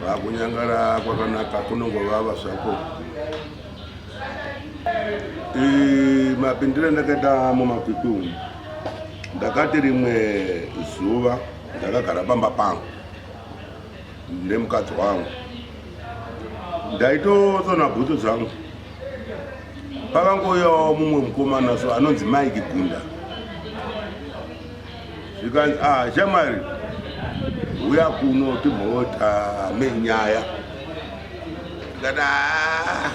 Vakunyangara kwakanaka kunongovava zvako. Eh, mapindire ndakaita mumakwikwi umu ndakati rimwe zuva ndakagara pamba pangu nemukadzi wangu ndaitosona bhutsu dzangu pakangoyawo mumwe mukomana so anonzi mike gunda zvikanzi ah shamwari huya kuno timhotame nyaya tikati ah,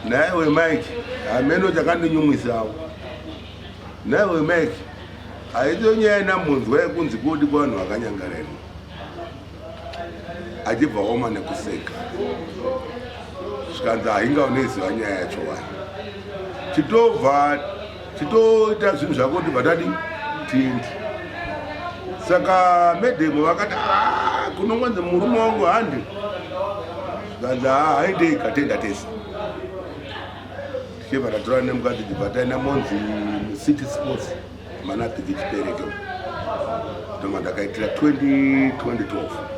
naye wemike hameno chakandinyumwisawo naye wemike haidzo nyaya ina munzwa yekunzi kodi kwanhu vakanyangarema achibva woma nekuseka zvikanzi hainga uneziva nyaya yacho wani chitobva chitoita zvinhu zvako tibva tadi tindi saka medhemu vakati ah, kunongonzi murume wangu handi zvanzi haa ah, haidei katenda tese tichibva tatora nemukadzi tibva taenda monzi city sports manatiki chipereke ndoma ndakaitira 2012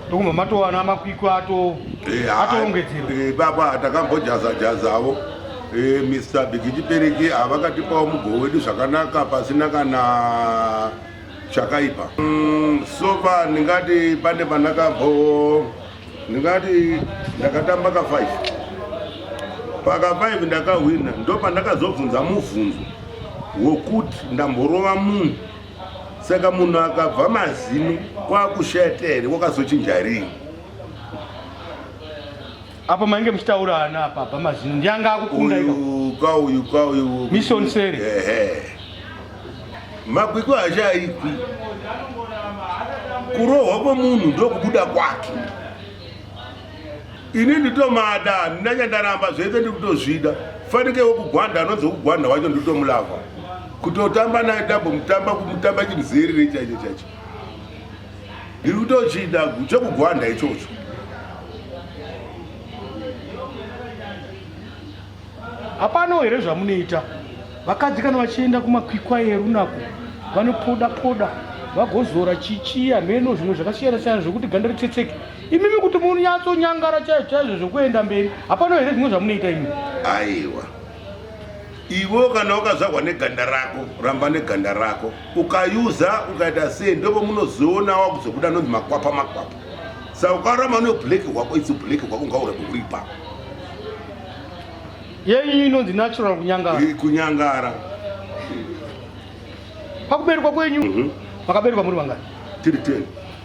ndokumva matowana makwikwa ato eh, atoongedzerwa eh, baba takambojaza jazavo eh, mr bigichipereki havakatipawo mugoho wedu zvakanaka pasina kana chakaipa mm, sofa ndingati pane pandakambo ndingati ndakatamba ka 5 paka 5 ndakahwina ndopandakazobvunza mubvunzo wokuti ndamborova munhu saka munhu akabva mazino kwakushata here wakazochinja rii apa mainge muchitaura ana apa abva mazino ndianga akukunda kauyu kauyu mission seri makwikwi achaikwi kurohwa kwemunhu ndokubuda kwake ini nditomada handina chandaramba zvese ndikutozvida fanike wekugwanda anonzi wekugwanda wacho nditomulava kutotamba naye tambomutamba kumutamba chimuzerere chaicho chaicho ndiri kutochida chekugwanda ichocho hapano here zvamunoita vakadzi kana vachienda kumakwikwa erunako vanopoda poda vagozora chichiya meno zvimwe zvakasiyana siyana zvekuti ganda ritsetseke imimi kuti munyatsonyangara chaizvo chaizvo zvekuenda mberi hapana here zvimwe zvamunoita imi aiwa ivo kana ukazvarwa neganda rako ramba neganda rako ukayuza ukaita sei ndopo munozoona wakuzobuda nonzi makwapa makwapa sa ukarama no black hwako itsi black hwako ungaura kuripa yeiyi inonzi natural kunyangara kunyangara pakuberekwa kwenyu mhm. makaberekwa muri vangani tiri 10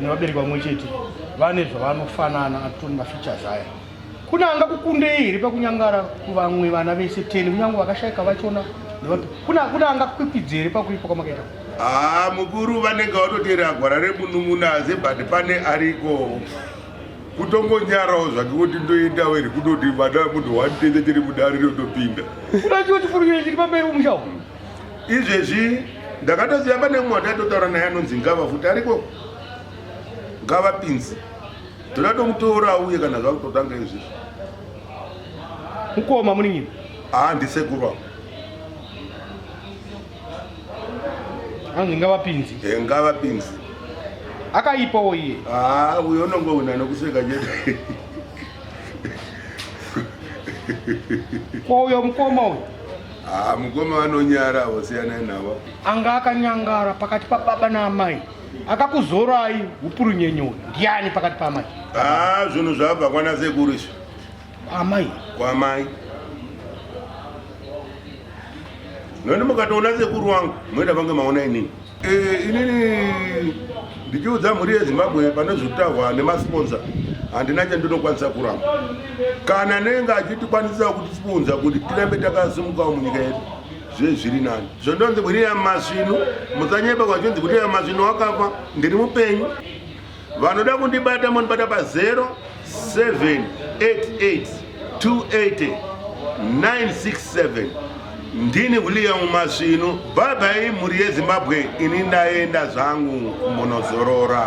nevabereki vamwe chete vane zvavanofanana atitori mafeatures aya kune anga kukundei here pakunyangara kuvamwe vana vese teni kunyange vakashaika vachona nevapi kune kune anga kukwipidzi here pakuipa kwamakaita haa ah, mukuru vanenge vatoteera gwara remunun'una asi but pane ariko kutongonyarawo zvake kuti ndoendawo here kutoti vana munhu wani tese tiri mudari rinotopinda kuda chiwo chifurukiro chiri pamberi umushawo izvezvi ndakatoziva pane mumwe wataitotaura naye anonzi ngava futi ariko ngava pinzi toda tomutora auye kana zvakutotanga izvezvi mukoma munin'ina haa ndisekuru avo anonzi ngava pinzi e ngava pinzi akaipawo iye haa uyo unonge wina nokuseka chete ko uyo mukoma uyo Ah, mukoma vanonyara avo siyanai navo. Anga akanyangara pakati pababa naamai akakuzorai hupurunyenyewe ndiani pakati paamai? Ah, zvinhu zvabva kwana sekuru izvi. Amai. Kwamai. Nani mukatoona sekuru wangu moita vange maona inini. Eh, inini ndichiudza mhuri yezimbabwe pane zvekutaurwa nemasponsa handina chandinokwanisa kuramba kana nenge achitikwanisa kutispunza kuti tirambe takasimukawo munyika yedu zvezviri nani zvondonzi kuti yamasvinu musanyeba kwachinzi kuti yamasvinu wakafa ndiri mupenyu vanoda kundibata monibata pa 0788280967 ndini william masvinu bhabhai mhuri yezimbabwe ini ndaenda zvangu kumbonozorora